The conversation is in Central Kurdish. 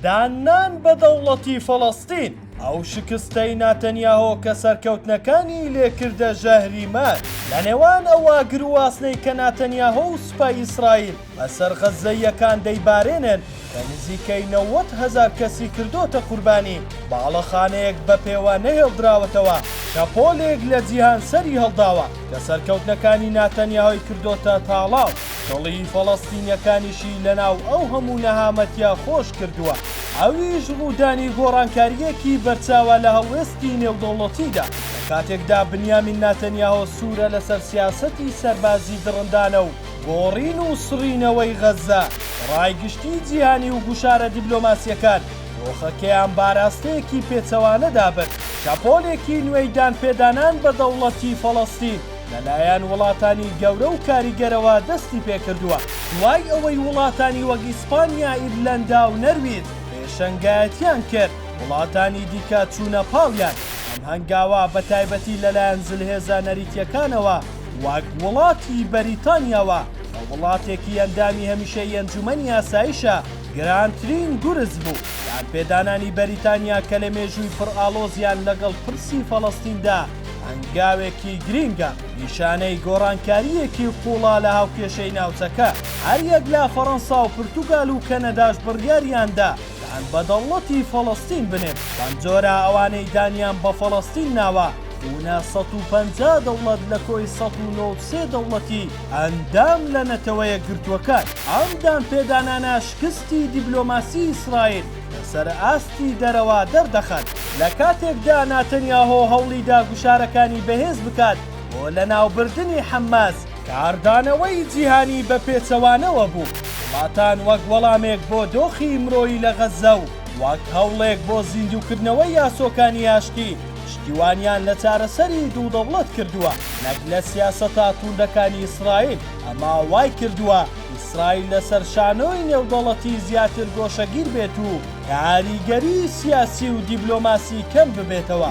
داننان بە دەوڵەتی فەڵەستین، ئەو شکستەی ناتەنیاهۆ کە سەرکەوتنەکانی لێ کردە ژەهری مار لە نێوان ئەو ئاگر و ئاسنەی کە ناتەنیاهۆ و سوپای ئیسرائیل بە سەر غەززەییەکان دەیبارێنن کە نزیکەی نەوەد هەزار کەسی کردۆتە قوربانی، باڵەخانەیەک بە پێوە نەهێڵدراوەتەوە کە پۆلێک لە جیهان سەری هەڵداوە کە سەرکەوتنەکانی ناتەنیاهۆی کردۆتە تاڵاو. دڵی فەڵەستینیەکانیشی لەناو ئەو هەموو نەهامەتیە خۆش کردووە، ئەویش ڕوودانی گۆڕانکارییەکی بەرچاوە لە هەڵوێستی نێودەوڵەتیدا، لە کاتێکدا بنیامین ناتەنیاهۆ سوورە لەسەر سیاسەتی سەربازی دڕندانە و گۆڕین و سڕینەوەی غەززە بە ڕای گشتی جیهانی و گوشارە دیبلۆماسیەکان دۆخەکەیان بەئاراستەیەکی پێچەوانەدا برد. شەپۆلێکی نوێی دانپێدانان بە دەوڵەتی فەڵەستین. لەلایەن وڵاتانی گەورە و کاریگەرەوە دەستی پێکردووە، دوای ئەوەی وڵاتانی وەک ئیسپانیا، ئیرلەندا و نەرویج پێشەنگایەتیان کرد، وڵاتانی دیکە چوونە پاڵیان، ئەم هەنگاوە بە تایبەتی لەلایەن زلهێزە نەریتییەکانەوە وەک وڵاتی بەریتانیاوە کە وڵاتێکی ئەندامی هەمیشەیی ئەنجومەنی ئاسایشە، گرانترین گورز بوو. دانپێدانانی بەریتانیا کە لە مێژووی پڕ ئاڵۆزیان لەگەڵ پرسی فەڵەستیندا، هەنگاوێکی گرینگە، نیشانەی گۆڕانکارییەکی قووڵە لە هاوکێشەی ناوچەکە، هەریەک لە فەرەنسا و پرتوگال و کەنەداش بڕیاریان دا دان بە دەوڵەتی فەڵەستین بنێن، بەمجۆرە ئەوانەی دانیان بە فەڵەستین ناوە بوونە سەد و پەنجا دەوڵەت لە کۆی سەد و نۆ و سێ دەوڵەتی ئەندام لە نەتەوەیەکگرتووەکان، ئەم دانپێدانانە شکستی دیبلۆماسی ئیسرائیل، سەرئاستی دەرەوە دەردەخەن، لە کاتێکدا ناتەنیاهۆ هەوڵیدا گوشارەکانی بەهێز بکات بۆ لەناوبردنی حەمماس. کاردانەوەی جیهانی بە پێچەوانەوە بوو، وڵاتان وەک وەڵامێک بۆ دۆخی مرۆیی لە غەززە و وەک هەوڵێک بۆ زیندووکردنەوەی یاسۆکانی ئاشتی، پشتیوانیان لە چارەسەری دوو دەوڵەت کردووە نەک لە سیاسەتە تووندەکانی ئیسرائیل، ئەمە وایکردووە، ئیسرائیل لەسەر شانۆی نێودەوڵەتی زیاتر گۆشەگیر بێت و کاریگەری سیاسی و دیبلۆماسی کەم ببێتەوە.